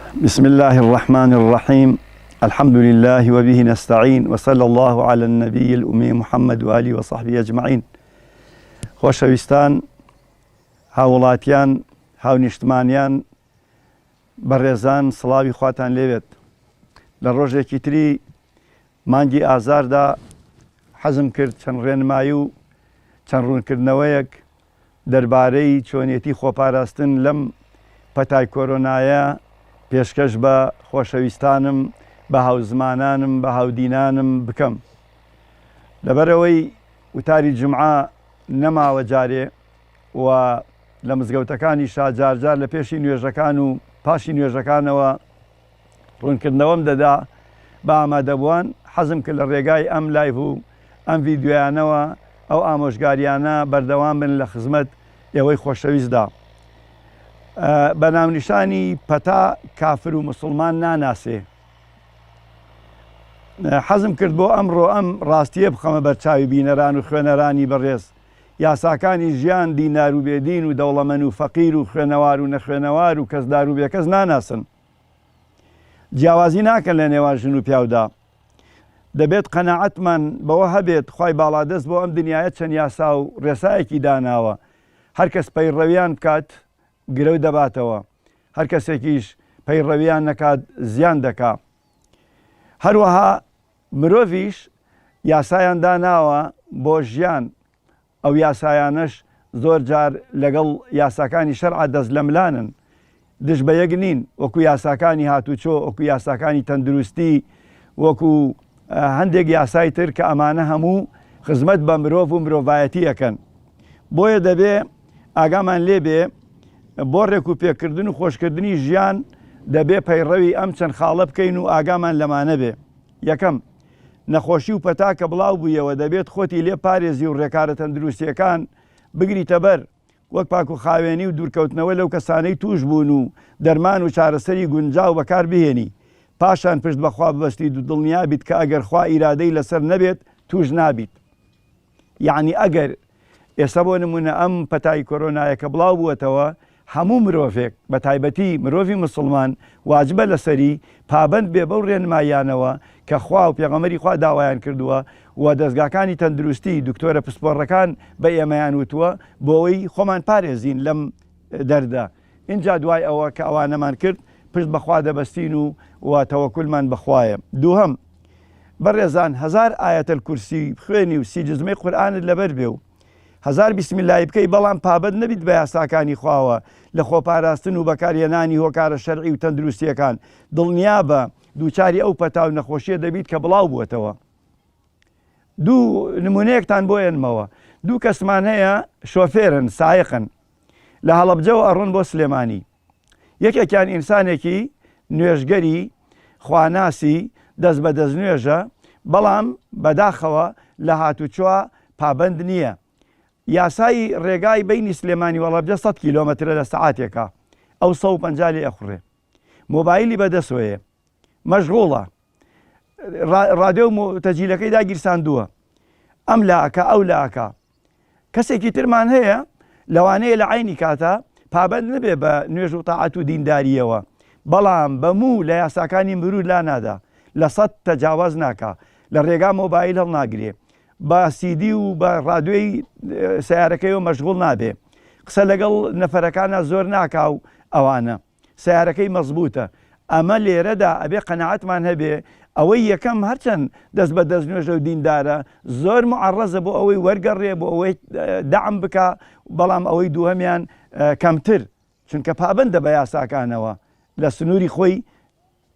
بسم الله الرحمن الرحيم الحمد لله وبه نستعين وصلى الله على النبي الأمي محمد وآله وصحبه أجمعين خۆشەویستان هاوڵاتیان هاونیشتمانیان بەڕێزان سڵاوی خواتان لێوێت لە ڕۆژێکی تری مانگی ئازاردا حەزم کرد چەند ڕێنمایی و چەند ڕوونکردنەوەیەک دەربارەی چۆنێتی خۆپاراستن لەم پەتای کۆرۆنایە پێشکەش بە خۆشەویستانم، بە هاوزمانانم، بە هاودینانم بکەم. لەبەرئەوەی وتاری جومعە نەماوە جارێ و لە مزگەوتەکانیشا جارجار لە پێشی نوێژەکان و پاشی نوێژەکانەوە، ڕوونکردنەوەم دەدا بە ئامادەبووان، حەزم کرد لە ڕێگای ئەم لایڤ و ئەم ڤیدیۆیانەوە ئەو ئامۆژگاریانە بەردەوام بن لە خزمەت ئێوەی خۆشەویستدا. بە ناونیشانی پەتا کافر و موسڵمان ناناسێ. حەزم کرد بۆ ئەمڕۆ ئەم ڕاستییە بخەمە بەرچاوی بینەران و خوێنەرانی بەڕێز. یاساکانی ژیان دینار و بێ دین و دەوڵەمەن و فەقیر و خوێنەوار و نەخوێنەوار و کەسدار و بێکەس ناناسن. جیاوازی ناکەن لە نێوان ژن و پیاودا. دەبێت قەناعەتمان بەوە هەبێت خوای باڵادەست بۆ ئەم دنیایە چەند یاسا و رێسایەکی داناوە، هەر کەس پەیڕەویان بکات گرەو دەباتەوە، هەر کەسێکیش پەیڕەویان نەکات زیان دەکا. هەروەها. مرۆڤیش یاسایان داناوە بۆ ژیان، ئەو یاسایانەش زۆر جار لەگەڵ یاساکانی شەرع دەست لە ملانن، دژ بە یەک نین، وەکو یاساکانی هاتوچۆ، وەکو یاساکانی تەندروستی، وەکو هەندێک یاسای تر کە ئەمانە هەموو خزمەت بە مرۆڤ و مرۆڤایەتی ئەکەن. بۆیە دەبێ. ئاگامان لێ بێ بۆ ڕێک و پێکردن و خۆشکردنی ژیان دەبێ پەیڕەوی ئەم چەند خاڵە بکەین و ئاگامان لەمانە بێ یەکەم نەخۆشی و پەتا کە بڵاو بوویەوە دەبێت خۆتی لێ پارێزی و ڕێکارە تەندروستیەکان بگریتە بەر وەک پاک و خاوێنی و دوورکەوتنەوە لەو کەسانەی توش بوون و دەرمان و چارەسەری گونجاو بەکار بهێنی پاشان پشت بەخوا ببەستیت و دڵنیابیت کە ئەگەر خوا ئیرادەی لەسەر نەبێت توش نابیت. یەعنی ئەگەر ئێستا بۆ نموونە ئەم پەتای کۆرۆنایە کە بڵاو بووەتەوە هەموو مرۆڤێک بە تایبەتی مرۆڤی موسڵمان واجبە لەسەری پابەند بێ بەو ڕێنماییانەوە کە خوا و پێغەمەری خوا داوایان کردووە و دەستگاکانی تەندروستی دکتۆرە پسپۆڕەکان بە ئێمەیان وتووە بۆ ئەوەی خۆمان پارێزین لەم دەردە ئینجا دوای ئەوە کە ئەوانەمان کرد پشت بە خوا دەبەستین و و تەوەکولمان بە خوایە. دووهەم، بەڕێزان هەزار ئایەت الکرسی بخوێنی و سی جزمەی قورئانت لەبەر بێ و هەزار بسم اللەی بکەی بەڵام پابەند نەبیت بە یاساکانی خواوە لە خۆپاراستن و بەکار هێنانی هۆکارە شەرعی و تەندروستیەکان دڵنیابە دووچاری ئەو پەتا و نەخۆشیە دەبیت کە بڵاو بووەتەوە. دوو نمونەیەکتان بۆ ئێنمەوە. دوو کەسمان هەیە شۆفێرن، سایقن. لە هەڵەبجەوە ئەڕۆن بۆ سلێمانی. یەکێکیان ئینسانێکی نوێژگەری خواناسی دەست بە دەستنوێژە، بەڵام بەداخەوە لە هاتوچۆ پابەند نییە. یاسای ڕێگای بەینی سلێمانی و هەڵەبجە سەد کیلۆمەترە لە سەعاتێکا، ئەو سەد و پەنجا لێ ئەخوڕێ. مۆبایلی بەدەسۆیە. مەشغوڵە. ڕادێو و تەجیلەکەی داگیرساندووە. ئەم لا ئەکا، ئەو لا ئەکا. کەسێکی ترمان هەیە لەوانەیە لە عەینی کاتا پابەند نەبێ بە نوێژ و تاعەت و دیندارییەوە، بەڵام بە موو لە یاساکانی مرور لا نادا، لە سەد تەجاواز ناکا، لە رێگا مۆبایل هەڵناگرێ، بە سیدی و بە رادیۆی سەیارەکەیەوە مەشغوڵ نابێ، قسە لەگەڵ نەفەرەکانا زۆر ناکا و ئەوانە. سەیارەکەی مەزبووتە. ئەمە لێرەدا ئەبێ قەناعەتمان هەبێ ئەوەی یەکەم هەرچەند دەست بە دەستنوێژە و دیندارە زۆر موعەڕەزە بۆ ئەوەی وەرگەڕێ بۆ ئەوەی دەعم بکا بەڵام ئەوەی دووهەمیان کەمتر چونکە پابەندە بە یاساکانەوە لە سنووری خۆی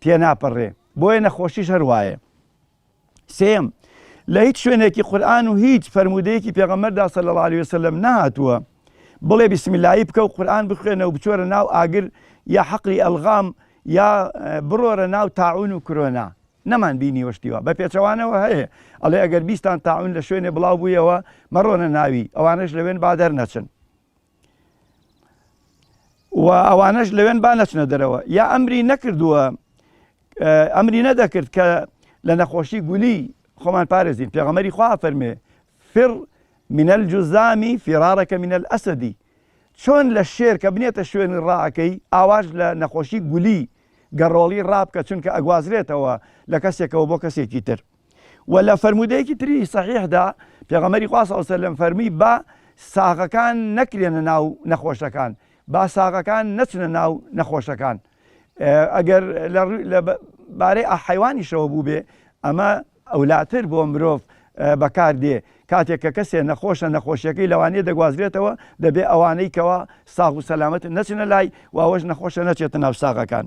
تێناپەڕێ بۆیە نەخۆشیش هەر وایە. سێیەم، لە هیچ شوێنێکی قورئان و هیچ فەرموودەیەکی پێغەمبەردا صلی اللە علیە وسلم نەهاتووە بڵێ بسم اللە بکە و قورئان بخوێنە و بچۆرە ناو ئاگر یا حەقلی ئەلغام یا بڕۆرە ناو تاعون و کرۆنا نەمان بینیوە شتیوە بە پێچەوانەوە هەیە ئەڵێ ئەگەر بیستان تاعون لە شوێنێ بڵاو بوویەوە مەڕۆنە ناوی ئەوانش لەوێن با دەرنەچن و ئەوانەش لەوێن با نەچنە دەرەوە یا ئەمری نەکردووە ئەمری نەدەکرد کە لە نەخۆشی گولی خۆمان پارێزین پێغەمەری خوا فەرمێ فر منەل جوزامی فێرارەکە منەل ئەسەدی چۆن لە شێر کە بنێتە شوێنی ڕاکەی ئاواش لە نەخۆشی گولی گەڕۆڵی ڕابکە چونکە ئەگوازرێتەوە لە کەسێکەوە بۆ کەسێکی تر وە لە فەرموودەیەکی تری سەحیحدا پێغەمبەری خوا صلی اللە علیە و سلم فەرمووی با ساغەکان نەکرێنە ناو نەخۆشەکان با ساغەکان نەچنە ناو نەخۆشەکان ئەگەر لە بارەی ئەحیوانیشەوە بوو بێ ئەمە ئەولاتر بۆ مرۆڤ بەکار دێ کاتێک کە کەسێ نەخۆشە نەخۆشیەکەی لەوانەیە دەگوازرێتەوە دەبێ ئەوانەی کەەوە ساغ و سەلامەت نەچنە لای واوەش نەخۆشە نەچێتە ناو ساغەکان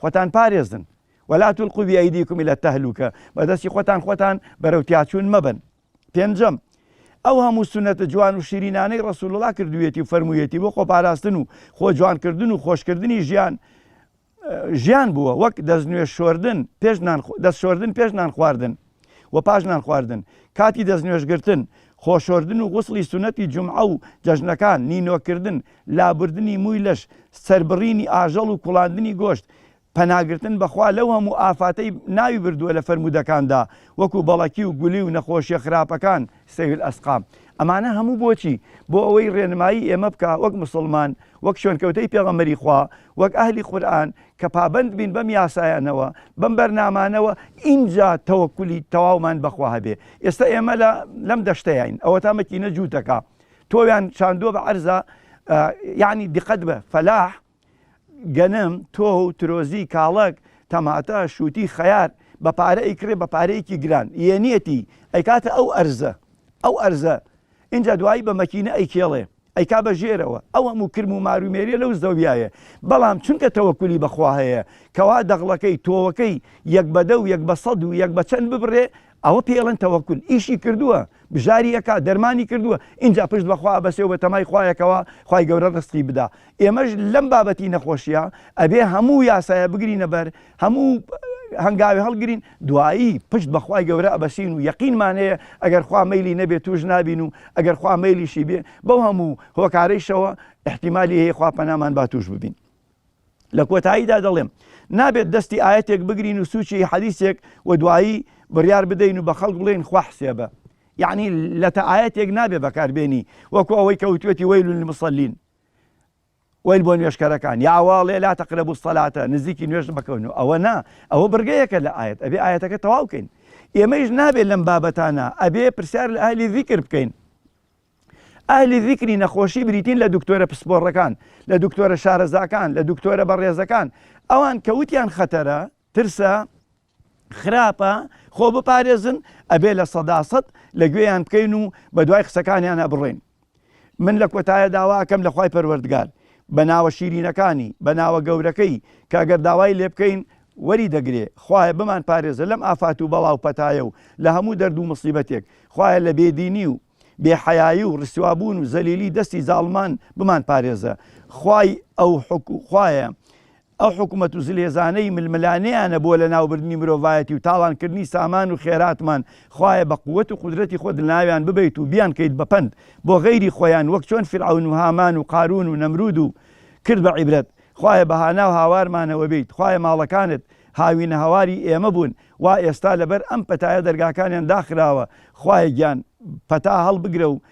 خۆتان پارێزن ولا تلقوا بأيديكم الى التهلوکە بەدەستی خۆتان خۆتان بەرەو تیاچوون مەبن پێنجەم ئەو هەموو سونەتە جوان و شیرینانەی ڕسوڵڵا کردوێتی و فەرموویەتی بۆ خۆپاراستن و خۆ جوانکردن و خۆشکردنی ژیان ژیان بووە وەک دەستنوێ شۆردن پێش دەست شۆردن پێش نان خواردن و پاش نانخواردن، کاتی دەستنوێژگرتن، خۆشۆردن و غوسڵی سوننەتی جومعە و جەژنەکان، نینۆکردن، لابردنی مووی لەش، سەربڕینی ئاژەڵ و کوڵاندنی گۆشت، پەناگرتن بە خوا لەو هەموو ئافاتەی ناوی بردووە لە فەرموودەکاندا، وەکو بەڵەکی و گولی و نەخۆشییە خراپەکان، سەیل الاسقام. ئەمانە هەموو بۆچی؟ بۆ ئەوەی ڕێنمایی ئێمە بکا وەک موسڵمان، وەک شوێنکەوتەی پێغەمبەری خوا، وەک ئەهلی قورئان کە پابەند بین بەم یاسایانەوە بەم بەرنامانەوە ئینجا تەوەکولی تەواومان بەخوا هەبێ ئێستا ئێمە لە لەم دەشتەیین ئەوە تا مەکینە جووتەکە تۆیان چاندووە بە عەرزە یعنی دقت بە فەلاح گەنم تۆ و ترۆزی کاڵک تەماتە شووتی خەیار بە پارە ئیکرێ بە پارەیەکی گران یەنیەتی ئەیکاتە ئەو ئەرزە ئەو ئەرزە اینجا دوایی بە مەکینە ئەیکێڵێ ئەیکا بە ژێرەوە ئەو هەموو کرم و مار و مێریە لەو زەویایە بەڵام چونکە تەوەکولی بە خوا هەیە کەوا دەغڵەکەی تۆوەکەی یەک بە دە و یەک بە سەد و یەک بە چەند ببڕێ ئەوە پێی ئەڵێن تەوەکول ئیشی کردووە بژاری ئەکا دەرمانی کردووە ئینجا پشت بە خوا ئەبەسێ و بە تەمای خوایە کەوا خوای گەورە ڕزقی بدا ئێمەش لەم بابەتی نەخۆشیە ئەبێ هەموو یاسایە بگرینە بەر هەموو هەنگاوێ هەڵگرین دوایی پشت بەخوای گەورە ئەبەسین و یەقینمان هەیە ئەگەر خوا مەلی نەبێت توش نابین و ئەگەر خوا مەلیشی بێ بەو هەموو هۆکارەیشەوە احتیممالی هەیە خوا پەنامان با توش ببین لە کۆتاییدا دەڵێم نابێت دەستی ئاەتێک بگرین و سوچی حەدیسێک و دوایی بڕیار بدەین و بە خەڵک بڵێن خوا حسێبە یعنی لە تە ئاەتێک نابێ بەکاربێنی وەکو ئەوەی کەوتێتی وەیل مسللین وەیل بۆ نوێژکەرەکان یا ئەوە ئەڵێ لا تقربوا الصلاة نزیکی نوێژ مەکەون و ئەوە نا ئەوە بڕگەیەکە لە ئاەت ئەبێ ئاەتەکە تەواو بکەین ئێمەیش نابێت لەم بابەتانە ئەبێ پرسیار لە ئەهلی ذیکر بکەین ئەهلی ذیکری نەخۆشی بریتین لە دکتۆرە پسپۆڕەکان لە دکتۆرە شارەزاکان لە دکتۆرە بەڕێزەکان ئەوان کەوتیان خەتەرە ترسە خراپە خۆ بپارێزن ئەبێ لە سەدا سەد لە گوێیان بکەین و بە دوای قسەکانیان ئەبڕۆین من لە کۆتایە داواکەم لە خی پەروەردگار بە ناوە شیرینەکانی بە ناوە گەورەکەی کاگەر داوای لێ بکەین وەری دەگرێ خوایە بمان پارێزە لەم ئافات و بەڵاو پەتایە و لە هەموو دەرد و مصیبەتێک خوایە لە بێدینی و بێحەیایی و ڕسوابوون و زەلیلی دەستی زاڵمان بمان پارێزە خوای ئەو حکو خوایە ئەو حکومەت و زلهێزانەی ململانێیانە بۆ لەناوبردنی مرۆڤایەتی و تاڵانکردنی سامان و خێراتمان، خوایە بە قوت و قودرەتی خۆت لەناویان ببەیت و بیانکەیت بە پەند بۆ غەیری خۆیان وەک چۆن فیرعەون و هامان و قارون و نەمرود و کرد بە عیبرەت خوایە بە هاناو هاوارمانەوە بیت خوایە ماڵەکانت هاوینە هەواری ئێمە بوون وا ئێستا لەبەر ئەم پەتایە دەرگاکانیان داخراوە خوایە گیان پەتا هەڵبگرە و